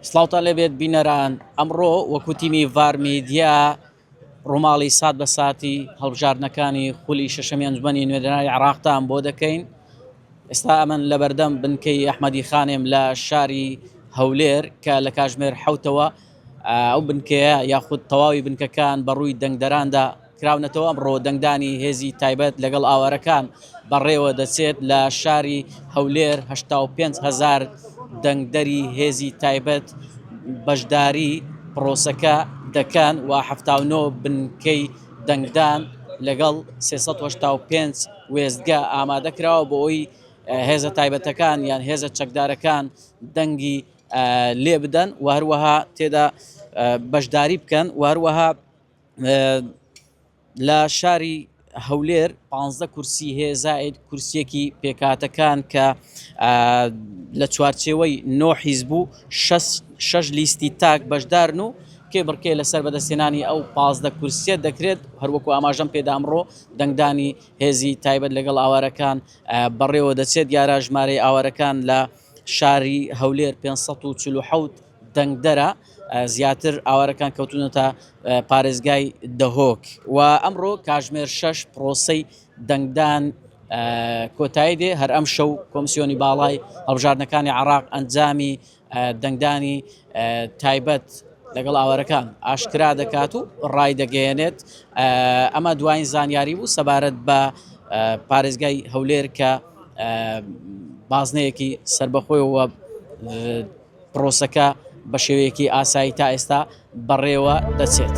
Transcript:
سڵاوتان لێبێت بینەران ئەمڕۆ وەکو تیمی ڤار میدیا ڕووماڵی سات بە ساتی هەڵبژاردنەکانی خولی شەشەمی ئەنجومەنی نوێنەرانی عراقتان بۆ دەکەین ئێستا ئەمن لە بەردەم بنکەی ئەحمەدی خانێم لە شاری هەولێر کە لە کاژمێر حوتەوە ئەو بنکەیە یاخود تەواوی بنکەکان بە ڕووی دەنگدەراندا کراونەتەوە ئەمڕۆ دەنگدانی هێزی تایبەت لەگەڵ ئاوارەکان بەڕێوە دەچێت لە شاری هەولێر 85 هەزار دەنگدەری هێزی تایبەت بەشداری پرۆسەکە دەکەن و 79 بنکەی دەنگدان لەگەڵ 385 وێستگە ئامادە کراوە بۆ ئەوەی هێزە تایبەتەکان یان هێزە چەکدارەکان دەنگی لێبدەن و هەروەها تێدا بەشداری بکەن و هەروەها لە شاری هەولێر 15 کورسی هەیە زائد کورسیەکی پێکاتەکان کە لە چوارچێوەی نۆ حیز بوو شش لیستی تاک بەشدارن و کێ بڕکێ لەسەر بەدەستێنانی ئەو پازدە کورسیە دەکرێت هەروەکو ئاماژەم پێدا ئەمڕۆ دەنگدانی هێزی تایبەت لەگەڵ ئاوارەکان بەڕێوە دەچێت دیارە ژمارەی ئاوارەکان لە شاری هەولێر پێنج سەد و چل و حەوت دەنگدەرە زیاتر ئاوارەکان کەوتونەتە پارێزگای دهۆک و ئەمڕۆ کاژمێر شەش پرۆسەی دەنگدان کۆتایی دێ هەر ئەم شەو کۆمسیۆنی باڵای هەڵبژاردنەکانی عراق ئەنجامی دەنگدانی تایبەت لەگەڵ ئاوارەکان ئاشکرا دەکات و ڕای دەگەیەنێت ئەمە دوایین زانیاری بوو سەبارەت بە پارێزگای هەولێر کە بازنەیەکی سەربەخۆیەوە پرۆسەکە بە شێوەیەکی ئاسایی تا ئێستا بەڕێوە دەچێت.